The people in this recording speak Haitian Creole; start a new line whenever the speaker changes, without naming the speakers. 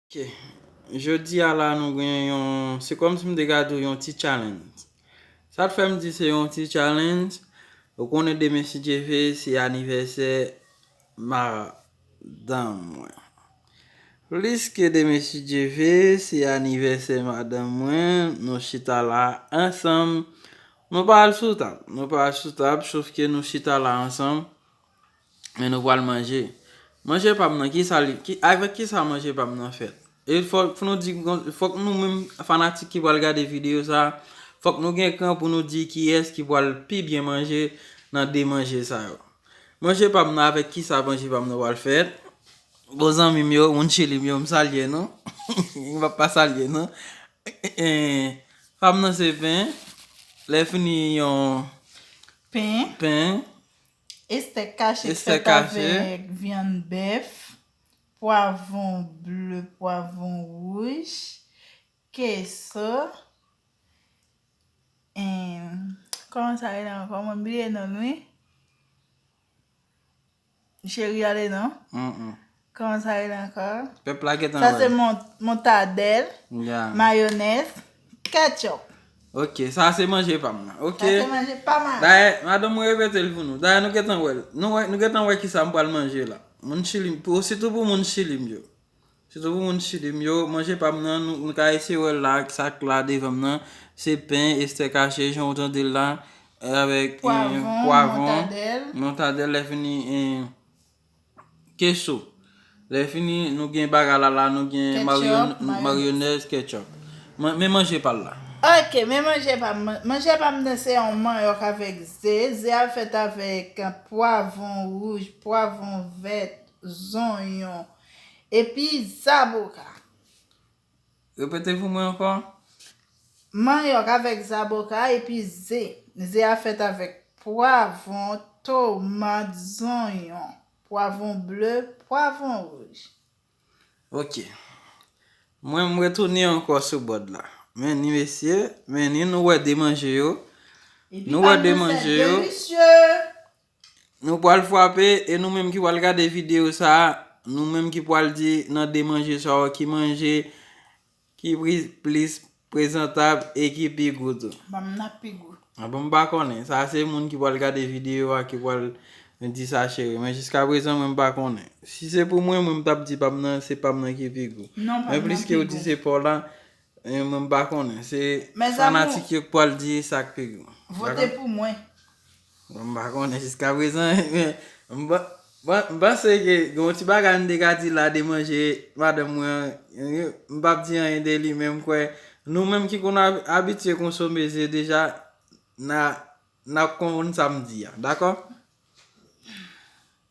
Ok Jodi a la nou gen yon se kòmsi m te ka di w yon ti challenge. Sa k fè m di se yon ti challenge, ou konnen demen si Dye ve se anivèsè madanm mwen. Plis ke demen si Dye ve se anivèsè madanm mwen, nou chita la ansanm. Nou pa al sou tab, nou pa al sou tab sof ke nou chita la ansanm. Men nou pral manje. Manje pa m nan, kisa li, avèk kisa manje pa m nan fèt? E fòk nou di, fòk nou menm fanatik ki pral gade videyo sa, fòk nou gen kran pou nou di kiyès ki pral pi byen manje nan 2 manje sa yo. Manje pa m nan avèk kisa manje pa m nan pral fèt? Bon zanmi m yo, moun chili m yo, m salye nou. M pap pa salye nou. Pa m nan se pen, lè fini yon pen.
Estèk kache k fèt avèk
vyann
bèf, pwavon ble, pwavon wouj, keso, kòman sa rele ankò mwen bliye non l wi, cheri ale non, Kòman sa rele ankò? Pèp la gentan wè. Sa se montadèl, mayonèz, ketchup. Ok,
sa se manje pa m nan. Sa se manje pa m
a. Dayè, madanm mwen repete
l pou nou. Dayè nou gentan wè l. Nou gentan wè ki sa m pral manje la. Moun chili m, sitou pou moun chili m yo. Sitou pou moun chili m yo, manje pa m nan, nou ka eseye wè l la, sa k la devan m nan. Se pen, estèk ache, jan ou tande l la. Pwavon, montadèl.
Montadèl,
lè fini. Keso. Lè fini nou gen bagalala, nou gen maryonèz, ketchup. Men manje pal la. Ok, men manje
pam. Manje pam nan se yon manyòk avèk ze. Ze a fèt avèk pwavon wouj, pwavon vèt, zonyon, epi zaboka. Repete
pou mwen ankò. Manyòk
avèk zaboka epi ze. Ze a fèt avèk pwavon, tomat, zonyon, pwavon ble, pwavon wouj. Ok.
Mwen m retounen ankò sou bòd la. Men ni mesye, men ni nou wè de manje yo. Epi pa m nan sè delisye! Nou pwal fwape e nou menm ki pwal gade video sa, nou menm ki pwal di nan 2 manje sa yo ki manje ki plis prezantab e ki pi gou tou. Banm nan pi gou.
Bon m pa konnen,
sa se moun ki pwal gade video a ki pwal di sa cheri, men jiska prezan mwen m pa konnen. Si se pou mwen, mwen m tap di pam nan se pam nan ki pi gou. Non pam nan pi gou. Men pliske ou di se paw la, Mwen m pa konnen se fanatik yo k pwal di sak pi gou. Vote pou mwen.
Mwen m pa
konnen jiska prezan m panse ke gen yon ti bagay m te ka di la de manje madanm mwen an m pap di anyen de li men m kwè nou menm ki konn abitye konsome ze deja nap konprann sa m di a dakò.